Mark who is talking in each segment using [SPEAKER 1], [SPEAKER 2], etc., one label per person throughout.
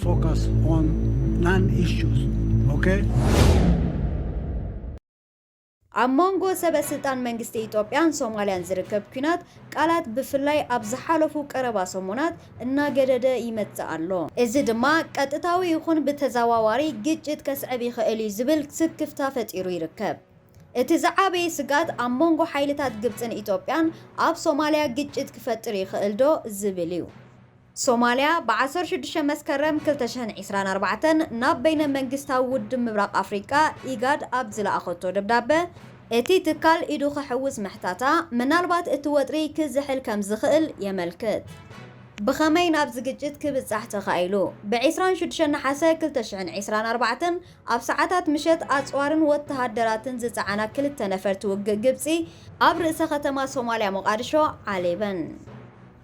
[SPEAKER 1] Focus on non-issues, okay?
[SPEAKER 2] ኣብ መንጎ ሰበ ስልጣን መንግስቲ ኢትዮጵያን ሶማልያን ዝርከብ ኲናት ቃላት ብፍላይ ኣብ ዝሓለፉ ቀረባ ሰሙናት እናገደደ ይመጽእ ኣሎ። እዚ ድማ ቀጥታዊ ይኹን ብተዘዋዋሪ ግጭት ከስዕብ ይኽእል እዩ ዝብል ስክፍታ ፈጢሩ ይርከብ። እቲ ዝዓበየ ስግኣት ኣብ መንጎ ሓይልታት ግብጽን ኢትዮጵያን ኣብ ሶማልያ ግጭት ክፈጥር ይኽእልዶ ዝብል እዩ። ሶማልያ ብ ዓሰርተ ሽዱሽተ መስከረም ክልተ ሽሕን ዒስራን ኣርባዕተን ናብ በይነ መንግስታዊ ውድብ ምብራቕ ኣፍሪቃ፣ ኢጋድ፣ ኣብ ዝለኣኸቶ ደብዳበ፣ እቲ ትካል ኢዱ ከሕውስ ምሕታታ፣ ምናልባት እቲ ወጥሪ ክዝሕል ከም ዝኽእል የመልክት። ብኸመይ ናብዚ ግጭት ክብጻሕ ተኻኢሉ? ብ ዕስራን ሽዱሽተን ነሓሰ ክልተ ሽሕን ዒስራን ኣርባዕተን ኣብ ሰዓታት ምሸት፣ ኣጽዋርን ወተሃደራትን ዝጸዓና ክልተ ነፈርቲ ውግእ ግብጺ ኣብ ርእሰ ከተማ ሶማልያ ሞቓድሾ ዓሊበን።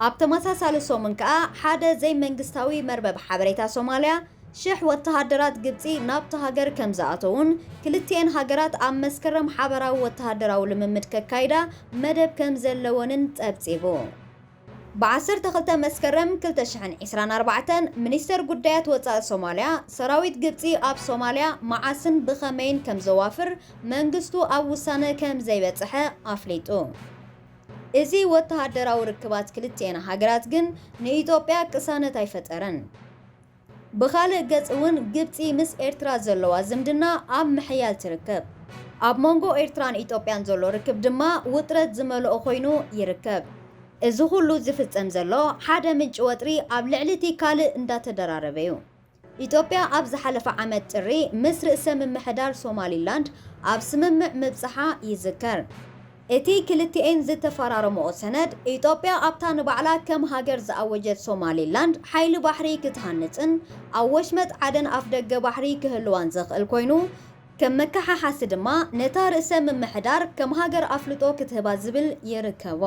[SPEAKER 2] ኣብ ተመሳሳሊ ሰሙን ከኣ ሓደ ዘይመንግስታዊ መርበብ ሓበሬታ ሶማልያ፣ ሽሕ ወተሃደራት ግብጺ ናብታ ሃገር ከምዝኣተዉን ክልቲኤን ሃገራት ኣብ መስከረም ሓበራዊ ወተሃደራዊ ልምምድ ከካይዳ መደብ ከምዘለወንን ጸብጺቡ። ብ ዓሰርተ ክልተ መስከረም ክልተ ሽሕን ዕስራን ኣርባዕተን፣ ሚኒስተር ጉዳያት ወጻኢ ሶማልያ፣ ሰራዊት ግብጺ ኣብ ሶማልያ መዓስን ብኸመይን ከምዘዋፍር መንግስቱ ኣብ ውሳነ ከምዘይበጸሐ ኣፍሊጡ። እዚ ወተሃደራዊ ርክባት ክልቲኤን ሃገራት ግን ንኢትዮጵያ ቅሳነት ኣይፈጠረን። ብኻልእ ገፅ እውን ግብፂ ምስ ኤርትራ ዘለዋ ዝምድና ኣብ ምሕያል ትርከብ። ኣብ መንጎ ኤርትራን ኢትዮጵያን ዘሎ ርክብ ድማ ውጥረት ዝመልኦ ኮይኑ ይርከብ። እዚ ኹሉ ዝፍፀም ዘሎ ሓደ ምንጪ ወጥሪ ኣብ ልዕሊ እቲ ካልእ እንዳተደራረበ ዩ። ኢትዮጵያ ኣብ ዝሓለፈ ዓመት ጥሪ ምስ ርእሰ ምምሕዳር ሶማሊላንድ ኣብ ስምምዕ ምብጻሓ ይዝከር። እቲ ክልቲኤን ዝተፈራረምኦ ሰነድ፣ ኢትዮጵያ ኣብታ ንባዕላ ከም ሃገር ዝኣወጀት ሶማሊላንድ ሓይሊ ባሕሪ ክትሃንጽን ኣብ ወሽመጥ ዓደን ኣፍደገ ባሕሪ ክህልዋን ዘኽእል ኮይኑ፣ ከም መከሓሓሲ ድማ ነታ ርእሰ ምምሕዳር ከም ሃገር ኣፍልጦ ክትህባ ዝብል ይርከቦ።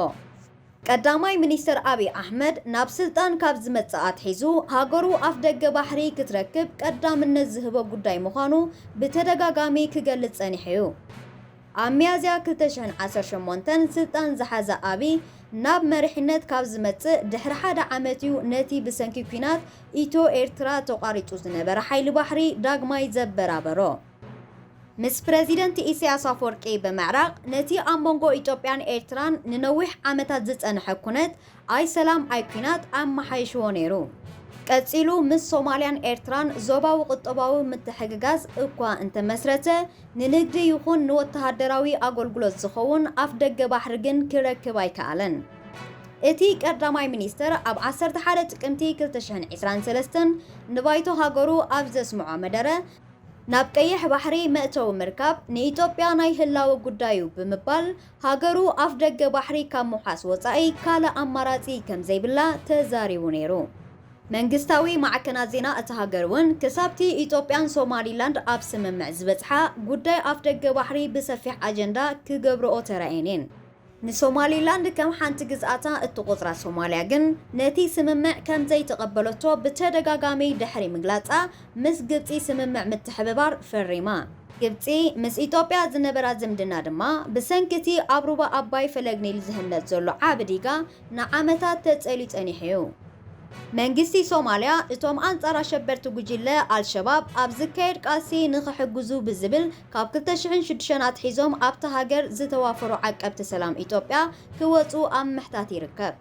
[SPEAKER 2] ቀዳማይ ሚኒስተር ኣብይ ኣሕመድ ናብ ስልጣን ካብ ዝመጽእ ኣትሒዙ ሃገሩ ኣፍደገ ባሕሪ ክትረክብ ቀዳምነት ዝህቦ ጉዳይ ምዃኑ ብተደጋጋሚ ክገልጽ ጸኒሑ'ዩ። ኣብ ሚያዝያ ክልተ ሽሕን ዓሰርተ ሸሞንተን ስልጣን ዝሓዘ ኣብይ ናብ መሪሕነት ካብ ዝመጽእ ድሕሪ ሓደ ዓመት'ዩ ነቲ ብሰንኪ ኲናት ኢትዮ-ኤርትራ ተቋሪጹ ዝነበረ ሓይሊ ባሕሪ ዳግማይ ዘበራበሮ። ምስ ፕረዚደንት ኢሳያስ ኣፍወርቂ ብምዕራቕ ነቲ ኣብ መንጎ ኢትዮጵያን ኤርትራን ንነዊሕ ዓመታት ዝጸንሐ ኩነት ኣይ ሰላም ኣይ ኩናት ኣመሓይሽዎ ነይሩ። ቀጺሉ ምስ ሶማልያን ኤርትራን ዞባዊ ቁጠባዊ ምትሕግጋዝ እኳ እንተመስረተ፣ ንንግዲ ይኹን ንወተሃደራዊ ኣገልግሎት ዝኸውን ኣፍደገ ባሕሪ ግን ክረክብ ኣይከኣለን። እቲ ቀዳማይ ሚኒስተር ኣብ ዓሰርተ ሓደ ጥቅምቲ ክልተ ሽሕን ዕስራን ሰለስተን ንባይቶ ሃገሩ ኣብ ዘስምዖ መደረ፣ ናብ ቀይሕ ባሕሪ መእተዊ ምርካብ ንኢትዮጵያ ናይ ህላወ ጉዳይ'ዩ ብምባል፣ ሃገሩ ኣፍደገ ባሕሪ ካብ ምውሓስ ወጻኢ ካልእ ኣማራጺ ከምዘይብላ ተዛሪቡ ነይሩ። መንግስታዊ ማዕከናት ዜና እታ ሃገር'ውን ክሳብ'ቲ ኢትዮጵያን ሶማሊላንድ ኣብ ስምምዕ ዝበጽሓ፣ ጉዳይ ኣፍደገ ባሕሪ ብሰፊሕ ኣጀንዳ ክገብርኦ ተራእየን'የን። ንሶማሊላንድ ከም ሓንቲ ግዝኣታ እትቖጽራ ሶማልያ ግን ነቲ ስምምዕ ከም ዘይተቐበለቶ ብተደጋጋሚ ድሕሪ ምግላጻ፣ ምስ ግብጺ ስምምዕ ምትሕብባር ፈሪማ። ግብጺ ምስ ኢትዮጵያ ዝነበራ ዝምድና ድማ ብሰንኪ እቲ ኣብ ሩባ ኣባይ ፈለግ ኒል ዝህነጽ ዘሎ ዓቢ ዲጋ ንዓመታት ተጸልዩ ጸኒሑ'ዩ። መንግስቲ ሶማልያ እቶም ኣንጻር ኣሸበርቲ ጉጅለ ኣልሸባብ ኣብ ዝካየድ ቃልሲ ንኽሕግዙ ብዝብል፣ ካብ ክልተ ሽሕን ሽዱሽተን ኣትሒዞም ኣብታ ሃገር ዝተዋፈሩ ዓቀብቲ ሰላም ኢትዮጵያ ክወጽኡ ኣብ ምሕታት ይርከብ።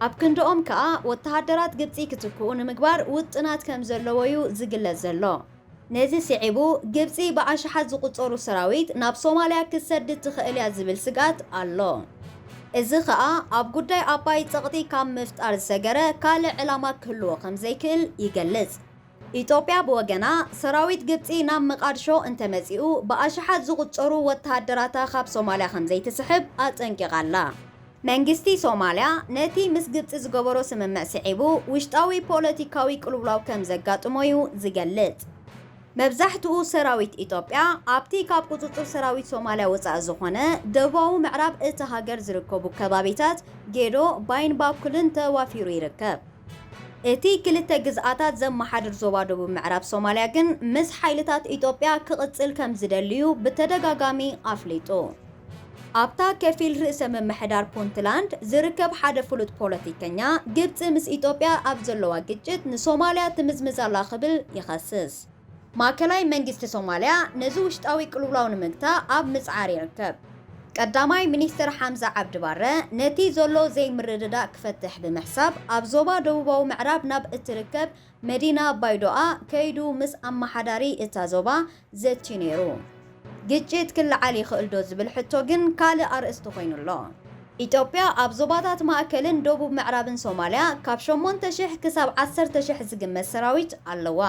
[SPEAKER 2] ኣብ ክንድኦም ከኣ ወተሃደራት ግብጺ ክትክኡ ንምግባር ውጥናት ከምዘለዎ'ዩ ዝግለጽ ዘሎ። ነዚ ስዒቡ ግብጺ ብኣሽሓት ዝቑጸሩ ሰራዊት ናብ ሶማልያ ክትሰድድ ትኽእል'ያ ዝብል ስግኣት ኣሎ። እዚ ከኣ ኣብ ጉዳይ ኣባይ ጸቕጢ ካብ ምፍጣር ዝሰገረ ካልእ ዕላማ ክህልዎ ከምዘይክእል ይገልጽ። ኢትዮጵያ ብወገና፣ ሰራዊት ግብጺ ናብ መቓድሾ እንተመጺኡ ብኣሽሓት ዝቑጸሩ ወተሃደራታ ካብ ሶማልያ ከምዘይትስሕብ ኣጠንቂቓ ኣላ። መንግስቲ ሶማልያ፣ ነቲ ምስ ግብጺ ዝገበሮ ስምምዕ ስዒቡ ውሽጣዊ ፖለቲካዊ ቅልውላው ከምዘጋጥሞ'ዩ ዝገልጽ። መብዛሕትኡ ሰራዊት ኢትዮጵያ፣ ኣብቲ ካብ ቁጽጽር ሰራዊት ሶማልያ ወጻኢ ዝኾነ ደቡባዊ ምዕራብ እታ ሃገር ዝርከቡ ከባቢታት ጌዶ፣ ባይን ባኩልን ተዋፊሩ ይርከብ። እቲ ክልተ ግዝኣታት ዘመሓድር ዞባ ደቡብ ምዕራብ ሶማልያ ግን ምስ ሓይልታት ኢትዮጵያ ክቕጽል ከምዝደሊ'ዩ ብተደጋጋሚ ኣፍሊጡ። ኣብታ ከፊል ርእሰ ምምሕዳር ፑንትላንድ ዝርከብ ሓደ ፍሉጥ ፖለቲከኛ፣ ግብጺ ምስ ኢትዮጵያ ኣብ ዘለዋ ግጭት ንሶማልያ ትምዝምዝ ኣላ ክብል ይኸስስ። ማእከላይ መንግስቲ ሶማልያ ነዚ ውሽጣዊ ቅልውላው ንምግታእ ኣብ ምጽዓር ይርከብ። ቀዳማይ ሚኒስተር ሓምዛ ዓብዲ ባረ፣ ነቲ ዘሎ ዘይምርድዳእ ክፈትሕ ብምሕሳብ ኣብ ዞባ ደቡባዊ ምዕራብ ናብ እትርከብ መዲና ባይዶኣ ከይዱ ምስ ኣመሓዳሪ እታ ዞባ ዘትዩ ነይሩ። ግጭት ክለዓል ይኽእል'ዶ ዝብል ሕቶ ግን ካልእ ኣርእስቲ ኮይኑ ኣሎ። ኢትዮጵያ ኣብ ዞባታት ማእከልን ደቡብ ምዕራብን ሶማልያ ካብ ሸሞንተ ሽሕ ክሳብ ዓሰርተ ሽሕ ዝግመት ሰራዊት ኣለዋ።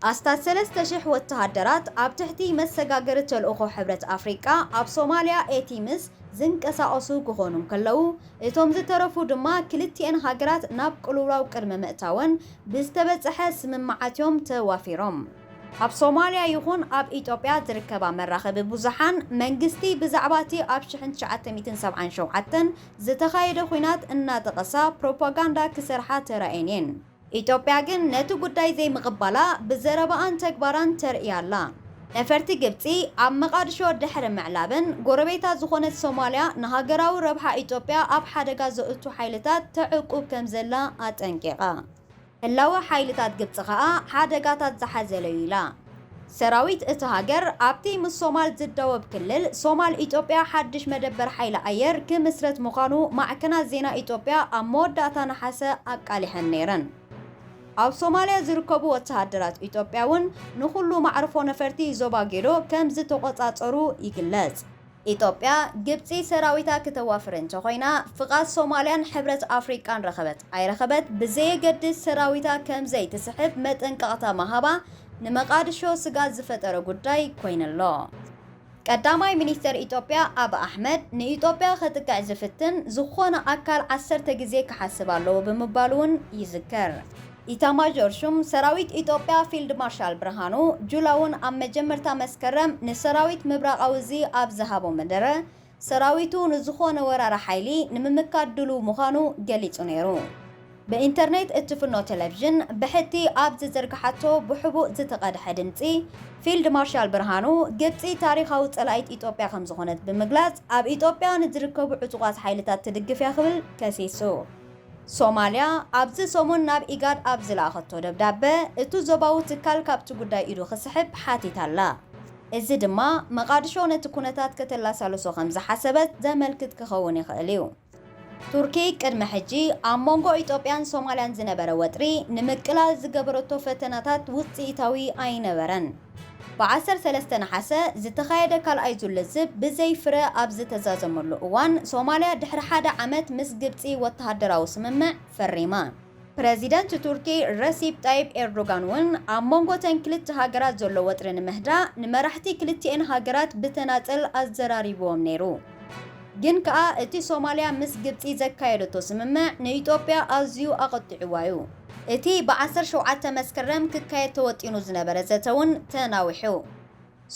[SPEAKER 2] ኣስታት ሰለስተ ሽሕ ወተሃደራት ኣብ ትሕቲ መሰጋገሪ ተልእኾ ሕብረት ኣፍሪቃ ኣብ ሶማልያ፣ ኤቲምስ፣ ዝንቀሳቐሱ ክኾኑ እንከለዉ፣ እቶም ዝተረፉ ድማ ክልቲኤን ሃገራት ናብ ቅልውላው ቅድሚ ምእታወን ብዝተበጸሐ ስምምዓት'ዮም ተዋፊሮም። ኣብ ሶማልያ ይኹን ኣብ ኢትዮጵያ ዝርከባ መራኸቢ ብዙሓን፣ መንግስቲ ብዛዕባ እቲ ኣብ ሽሕን ትሽዓተ ሚእትን ሰብዓን ሸውዓተን ዝተኻየደ ኹናት እናጠቐሳ ፕሮፓጋንዳ ክሰርሓ ተራእየን እየን። ኢትዮጵያ ግን ነቲ ጉዳይ ዘይምቕባላ ብዘረባኣን ተግባራን ተርእይ ኣላ። ነፈርቲ ግብጺ ኣብ መቓድሾ ድሕሪ ምዕላበን፣ ጎረቤታ ዝኾነት ሶማልያ ንሃገራዊ ረብሓ ኢትዮጵያ ኣብ ሓደጋ ዘእቱ ሓይልታት ተዕቁብ ከምዘላ ኣጠንቂቓ። ህላወ ሓይልታት ግብጺ ከኣ ሓደጋታት ዝሓዘለ'ዩ ኢላ። ሰራዊት እታ ሃገር ኣብቲ ምስ ሶማል ዝዳወብ ክልል ሶማል ኢትዮጵያ ሓድሽ መደበር ሓይሊ ኣየር ክምስርት ምዃኑ ማዕከናት ዜና ኢትዮጵያ ኣብ መወዳእታ ነሓሰ ኣቃሊሐን ነይረን። ኣብ ሶማልያ ዝርከቡ ወተሃደራት ኢትዮጵያ'ውን ንኹሉ ማዕርፎ ነፈርቲ ዞባ ጌዶ ከምዝተቖጻጸሩ ይግለጽ። ኢትዮጵያ ግብፂ ሰራዊታ ክተዋፍር እንተኾይና ፍቓድ ሶማሊያን ሕብረት ኣፍሪቃን ረኸበት ኣይረኸበት ብዘየገድስ ሰራዊታ ከምዘይትስሕብ መጠንቀቕታ ምሃባ ንመቓድሾ ስግኣት ዝፈጠረ ጉዳይ ኮይኑ ኣሎ። ቀዳማይ ሚኒስተር ኢትዮጵያ ኣቢ ኣሕመድ ንኢትዮጵያ ከጥቅዕ ዝፍትን ዝኾነ ኣካል ዓሰርተ ግዜ ክሓስብ ኣለዎ ብምባሉ'ውን ይዝከር። ኢታማዦር ሹም ሰራዊት ኢትዮጵያ ፊልድ ማርሻል ብርሃኑ ጁላ'ውን ኣብ መጀመርታ መስከረም ንሰራዊት ምብራቓዊ እዚ ኣብ ዝሃቦ መደረ፣ ሰራዊቱ ንዝኾነ ወራሪ ሓይሊ ንምምካት ድሉው ምዃኑ ገሊጹ ነይሩ። ብኢንተርኔት እትፍኖ ቴሌቪዥን ብሕቲ ኣብ ዝዘርግሓቶ ብሕቡእ ዝተቐድሐ ድምጺ፣ ፊልድ ማርሻል ብርሃኑ፣ ግብጺ ታሪኻዊ ጸላኢት ኢትዮጵያ ከምዝኾነት ብምግላጽ፣ ኣብ ኢትዮጵያ ንዝርከቡ ዕጡቓት ሓይልታት ትድግፍ'ያ ክብል ከሲሱ። ሶማልያ ኣብዚ ሰሙን ናብ ኢጋድ ኣብ ዝለኣኸቶ ደብዳበ፣ እቱ ዞባዊ ትካል ካብቲ ጉዳይ ኢዱ ክስሕብ ሓቲታ ኣላ። እዚ ድማ መቓድሾ ነቲ ኩነታት ከተላሳልሶ ከም ዝሓሰበት ዘመልክት ክኸውን ይኽእል እዩ። ቱርኪ ቅድሚ ሕጂ ኣብ መንጎ ኢትዮጵያን ሶማልያን ዝነበረ ወጥሪ ንምቅላል ዝገበረቶ ፈተነታት ውጽኢታዊ ኣይነበረን። ብ ዓሰርተ ሰለስተ ነሓሰ ዝተኻየደ ካልኣይ ዙር ልዝብ ብዘይ ፍረ ኣብ ዝተዛዘመሉ እዋን፣ ሶማልያ ድሕሪ ሓደ ዓመት ምስ ግብጺ ወተሃደራዊ ስምምዕ ፈሪማ። ፕረዚደንት ቱርኪ ረሲፕ ጣይብ ኤርዶጋን እውን ኣብ መንጎ እተን ክልተ ሃገራት ዘሎ ወጥሪ ንምህዳእ ንመራሕቲ ክልቲኤን ሃገራት ብተናጸል ኣዘራሪብዎም ነይሩ። ግን ከኣ እቲ ሶማልያ ምስ ግብጺ ዘካየደቶ ስምምዕ ንኢትዮጵያ ኣዝዩ ኣቘጢዕዋ'ዩ። እቲ ብ ዓሰርተ ሸውዓተ መስከረም ክካየድ ተወጢኑ ዝነበረ ዘተ ውን ተናዊሑ።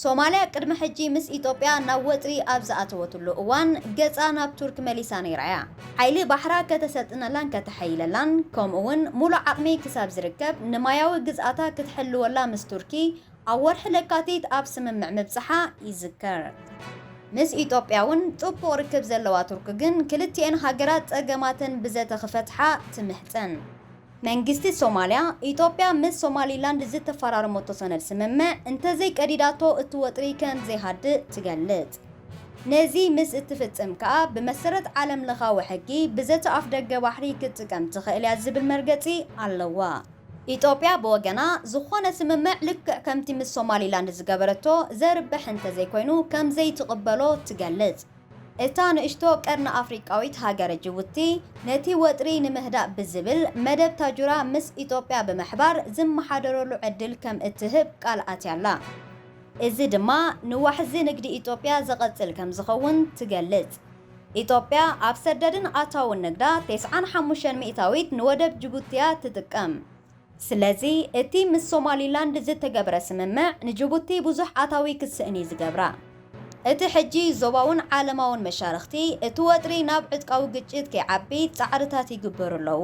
[SPEAKER 2] ሶማልያ ቅድሚ ሕጂ ምስ ኢትዮጵያ ናብ ወጥሪ ኣብ ዝኣተወትሉ እዋን ገጻ ናብ ቱርክ መሊሳ ነይራ እያ። ሓይሊ ባሕራ ከተሰልጥነላን ከተሐይለላን ከምኡ ውን ሙሉእ ዓቕሚ ክሳብ ዝርከብ ንማያዊ ግዝኣታ ክትሕልወላ ምስ ቱርኪ ኣብ ወርሒ ለካቲት ኣብ ስምምዕ ምብጽሓ ይዝከር። ምስ ኢትዮጵያ'ውን ጥቡቕ ርክብ ዘለዋ ቱርኪ ግን ክልቲኤን ሃገራት ጸገማተን ብዘተ ክፈትሓ ትምሕጸን። መንግስቲ ሶማልያ፣ ኢትዮጵያ ምስ ሶማሊላንድ ዝተፈራረመቶ ሰነድ ስምምዕ እንተዘይቀዲዳቶ እቲ ወጥሪ ከምዘይሃድእ ትገልጽ። ነዚ ምስ እትፍጽም ከኣ ብመሰረት ዓለምለኻዊ ሕጊ ብዘተ ኣፍደገ ባሕሪ ክትጥቀም ትኽእል'ያ ዝብል መርገጺ ኣለዋ። ኢትዮጵያ ብወገና፣ ዝኾነ ስምምዕ ልክዕ ከምቲ ምስ ሶማሊላንድ ዝገበረቶ ዘርብሕ እንተዘይኮይኑ ከምዘይትቕበሎ ትገልጽ። እታ ንእሽቶ ቀርኒ ኣፍሪቃዊት ሃገረ ጅቡቲ፣ ነቲ ወጥሪ ንምህዳእ ብዝብል፣ መደብ ታጁራ ምስ ኢትዮጵያ ብምሕባር ዝመሓደረሉ ዕድል ከም እትህብ ቃል ኣትያ'ላ። እዚ ድማ ንዋሕዚ ንግዲ ኢትዮጵያ ዘቐጽል ከምዝኸውን ትገልጽ። ኢትዮጵያ ኣብ ሰደድን ኣታውን ንግዳ ቴስዓን ሓሙሽተን ሚእታዊት ንወደብ ጅቡቲ'ያ ትጥቀም። ስለዚ እቲ ምስ ሶማሊላንድ ዝተገብረ ስምምዕ ንጅቡቲ ብዙሕ ኣታዊ ክትስእን'ዩ ዝገብራ። እቲ ሕጂ ዞባውን ዓለማውን መሻርኽቲ እቲ ወጥሪ ናብ ዕጥቃዊ ግጭት ከይዓቢ ጻዕርታት ይግበሩ ኣለዉ።